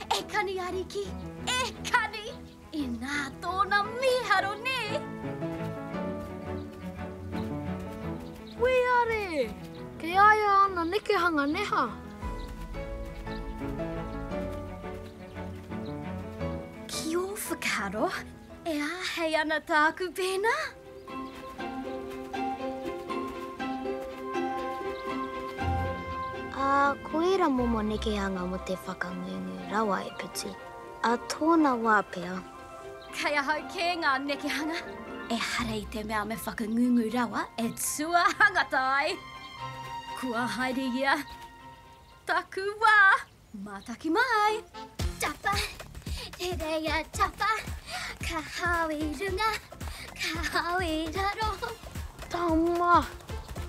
E kani ariki, e kani! Inā tōna mīharo nē! Weare! Kei a ia ana nekehanga neha. Ki ō whakaaro, e āhei ana tāku pēnā? Ā, ko ērā momo nekehanga mō te whakangungu rawa e putu, ā tōna wā pea. Kei ahau kē ngā nekehanga. Ehara i te mea me whakangungu rawa e tuahangata ai. Kua haere ia taku wā. Mātaki mai! Tapa! Te reia tapa! Ka hao i runga, ka hao i raro! Tama!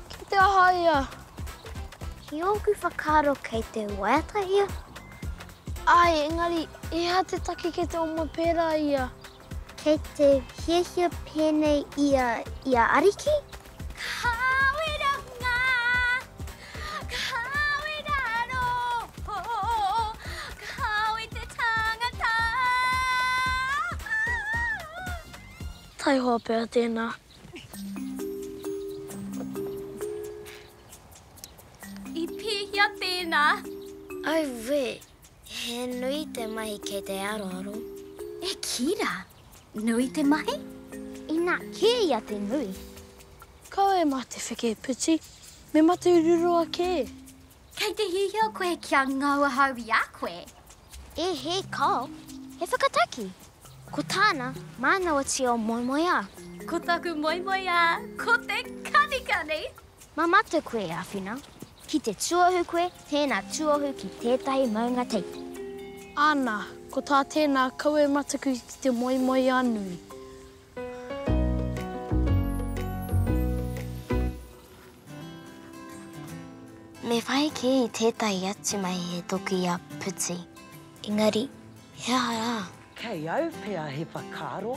Ki te aha ia? Ki ōku whakaaro kei te waiata ia. Āe, engari, he aha te take kei te oma pērā ia? Kei te hiahia pēnei ia i a Ariki? Kāore rā ngā, kāore rā roho, kāore te tangata. Taihoa pea tēnā. I pēhea tēnā? Auē! He nui te mahi kei te aroaro. E kī rā, nui te mahi? Inā, kē ia te nui. Kaua e mate wheke piti, me mate ruroa kē. Kei te hiahia koe kia ngau ahau i a koe? E hē kāo, he whakataki. Ko tāna, mānawa tio moemoeā. Ko taku moemoeā, ko te kanikani! Ma matou koe e awhina, ki te tuohu koe tēna tuohu ki tētahi maunga teiti. Ana, ko tā tēna kawe mataku ki te moemoeā nui. Me whai kē i tētahi atu mahi he toki i a Puti. Engari, he aha rā? Kei au pea he whakaaro.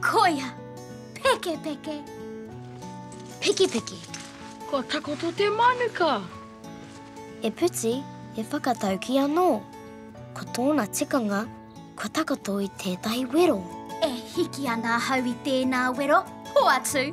Koia! Pekepeke! Pekepeke! Kua takoto te manuka! E Puti, e whakatauki anō. Ko tōna tikanga, kua takoto i tētahi wero. E hiki ana ahau i tēnā wero, hoatu!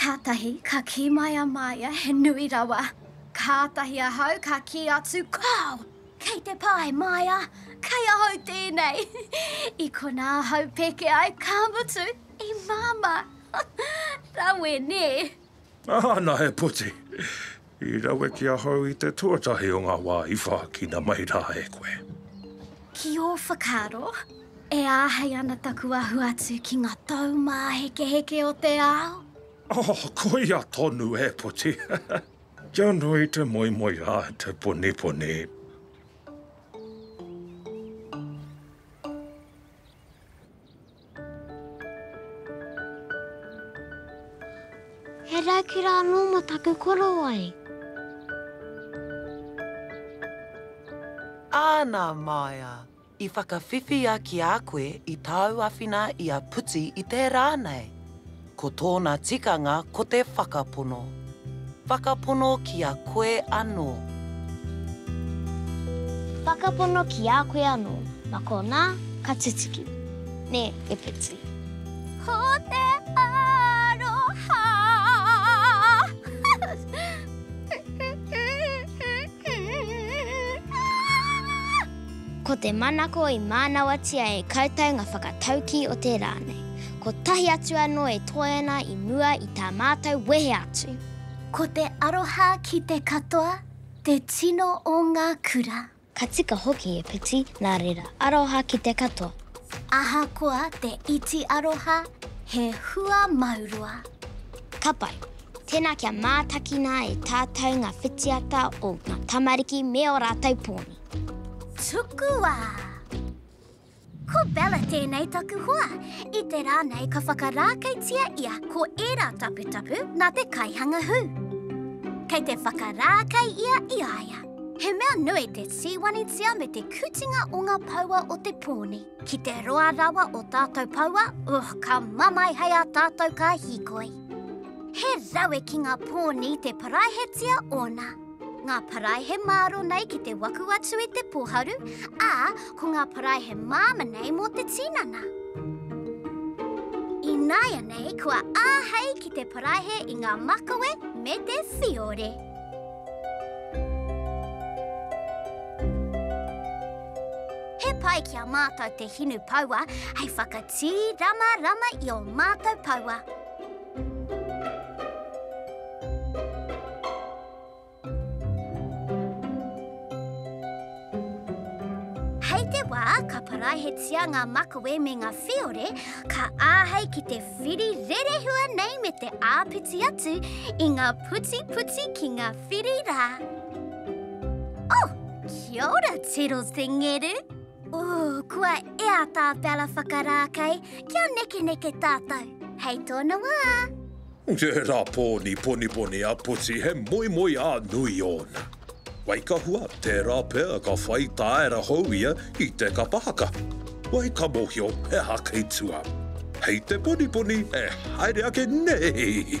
Kātahi ka kī mai a Maia, he nui rawa. Kātahi ahau ka kī atu, Kāo! Kei te pae, Maia! Kei ahau tēnei! I konā ahau peke ai, ka mutu, i māmā! Rawe, nē! Ana he puti! I rawe ki ahau i te tuatahi o ngā wā i whākina mai rā e koe. Ki ō whakaaro, e āhei ana taku ahu atu ki ngā taumāhekeheke o te ao? Oh, koia tonu e puti! Kia nui te moemoe a te poniponi! He raukura anō mō taku korowai. Āna māia, i whakawhiwhia ki a koe i tāu awhina i a Puti i tērā nei. Ko tōna tikanga ko te whakapono. Whakapono ki a koe anō. Whakapono ki a koe anō. Ma konā ka tutuki. Nē, e Peti. Ko te aroha. Aah! Ko te manako i mānawatia e koutou ngā whakataukī o te rā nei. Kotahi atu anō e toe ana i mua i tā mātou wehe atu. Ko te aroha ki te katoa te tino o ngā kura. Ka tika hoki e Piti, nā reira, aroha ki te katoa. Ahakoa te iti aroha, he hua mauroa. Ka pai. Tēnā kia mātakina e tātou ngā whitiata o ngā tamariki me ō rātou pōni. Tukua! Ko Bella tēnei taku hoa. I te rā nei ka whakarākeitia ia ko ērā taputapu nā te kaihanga hū. Kei te whakarākei ia i a ia. He mea nui te tīwanitia me te kutinga o ngā paua o te pōni. Ki te roa rawa o tātou paua, oh ka mamae hei a tātou ka hīkoi. He rawe ki ngā pōni te paraihetia ōna. Ngā parae he māro nei ki te waku atu i te poharu, ā, ko ngā parae he māma nei mō te tinana. Ināianei kua āhei ki te paraihe i ngā makawe me te whiore. He pai ki a mātou te hinu paua hei whakatīramarama i ō mātou paua. Hei te wā ka paraihetia ngā makawe me ngā whiore, ka āhei ki te whiri rerehua nei me te āpiti atu i ngā putiputi ki ngā whiri rā. Oh! Kia ora, Tero Te Ngeru! Ooh, kua ea tā Bella whakarākei kia nekeneke tātou. Hei tōna wā! Tērā pōni poniponi a Puti he moemoeā nui ōna. Wai ka hua, tērā pea ka whai tāera hou ia ki te kapa haka. Wai ka mōhio he aha kei tua. Hei te poniponi e haere ake nēhī!